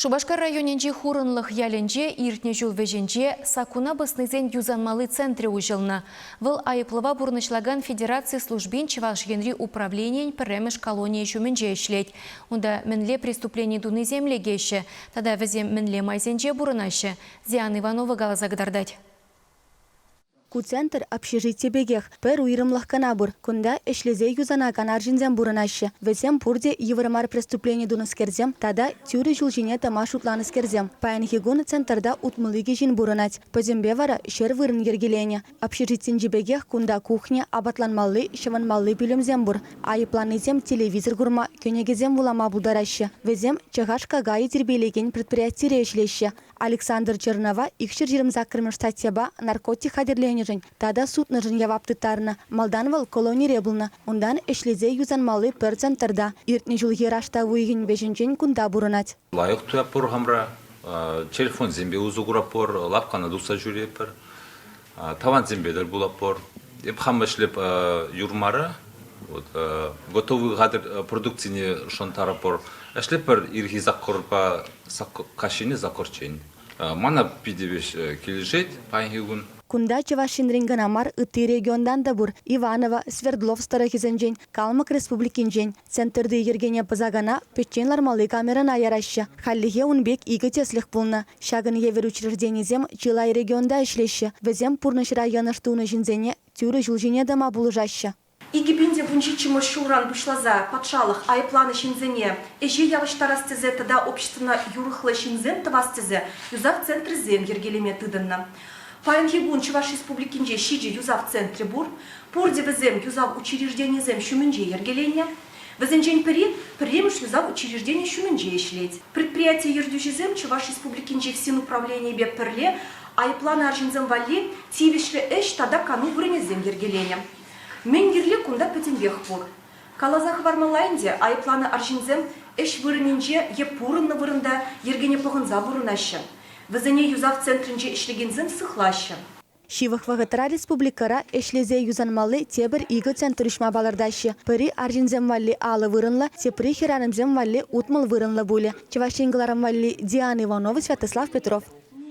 Шупашкар районӗнчи Хурӑнлӑх ялӗнче иртнӗ ҫул вӗҫӗнче саккуна пӑснисен юсанмалли центрӗ уҫӑлнӑ. Вӑл айӑплӑва пурнӑҫлакан федераци службин Чӑваш Енри управленийӗн пӗрремӗш колонийӗ ҫумӗнче ӗҫлет. Унта мӗнле преступлени тунисем лекеҫҫӗ тата вӗсем мӗнле майсенче пурӑнаҫҫӗ, Зиана Иванова каласа кӑтартать. Ку центр общежити пекех пӗр уйрӑмлӑх кӑна пур. Кунта ӗҫлесе юсанакан арҫынсем пурӑнаҫҫӗ. Вӗсем пурте йывӑр мар преступлени тунӑскерсем тата тӳрӗ ҫул ҫине тӑма шутланӑскерсем. Паянхи кун центрта утмӑл икӗ ҫын пурӑнать. Пӗтӗмпе вара ҫӗр вырӑн йӗркеленӗ. Общежитинчи пекех кунта кухня, апатланмалли, ҫӑвӑнмалли пӳлӗмсем пур. Айӑпланнисем телевизор курма, кӗнекесем вулама пултараҫҫӗ. Вӗсем ЧХШ-какайӗ тирпейлекен предприятире ӗҫлеҫҫӗ. Александр Чернова икҫӗр ҫирӗм саккӑрмӗш статьяпа наркотик хатӗрленӗшӗн тата сутнӑшӑн явап тыттарнӑ. Малтан вӑл колонире пулнӑ, унтан ӗҫлесе юсанмалли пӗр центрта, иртнӗ ҫулхи раштав уйӑхӗн вӗҫӗнчен кунта пурӑнать. Лайӑх туятпӑр хамӑра, телефонсемпе усӑ куратпӑр, лавккана тухса ҫӳретпӗр. Тӑвансемпе тӗл пулатпӑр. Эп хам ӗҫлеп юрмара. Вот, готовый хатӗр продукцине шӑнтарӑпӑр. Ӗҫлепӗр ирхи саккӑрпа каҫхине саккӑрччен. Мана питӗ веҫ килӗшет паянхи кун. Кунта Чӑваш Енрен кӑна мар, ытти регионтан та пур, Иваново, Свердловск тӑрӑхӗсенчен, Калмӑк Республикинчен, Центрти йӗркене пӑсаканах пӗччен лармалли камерӑна яраҫҫӗ. Хальлӗхе ун пек икӗ тӗслӗх пулнӑ. Ҫакӑн евӗр учрежденисем чылай регионта ӗҫлеҫҫӗ. Вӗсем пурнӑҫра йӑнӑш тунӑ ҫынсене тӳрӗ ҫул ҫине тӑма пулӑшаҫҫӗ. Икӗ пин те вунҫиччӗмӗш ҫулран пуҫласа патшалӑх айӑпланӑ ҫынсене ӗҫе явӑҫтарас тесе тата обществӑна юрӑхлӑ ҫынсем тӑвас тесе юсав центрӗсем йӗркелеме тытӑннӑ. Паянхи кун Чӑваш Республикинче ҫичӗ юсав центрӗ пур. Пурте вӗсем юсав учрежденийӗсем ҫумӗнче йӗркеленнӗ. Вӗсенчен пӗри пӗрремӗш юсав учрежденийӗ ҫумӗнче ӗҫлет. Предприяти ертӳҫисем Чӑваш Республикинчи финуправленийӗпе пӗрле айӑпланӑ арҫынсем валли тивӗҫлӗ ӗҫ тата кану вырӑнӗсем йӗркеленӗ. Мӗн кирли кунта пӗтӗмпех пур. Каласа хӑвармалла ӗнтӗ, айӑпланӑ арҫынсем ӗҫ вырӑнӗнче е пурӑннӑ вырӑнта йӗркене пӑхӑнса пурӑнаҫҫӗ. Вӗсене юсав центрӗнче ӗҫлекенсем сыхлаҫҫӗ. Ҫывӑх вӑхӑтра республикӑра ӗҫлесе юсанмалли тепӗр икӗ центр уҫма палӑртаҫҫӗ. Пӗри арҫынсем валли алӑ вырӑнлӑ, тепри хӗрарӑмсем валли утмӑл вырӑнлӑ пулӗ. Чӑваш Ен кӑларӑм валли Диана Иванова, Святослав Петров.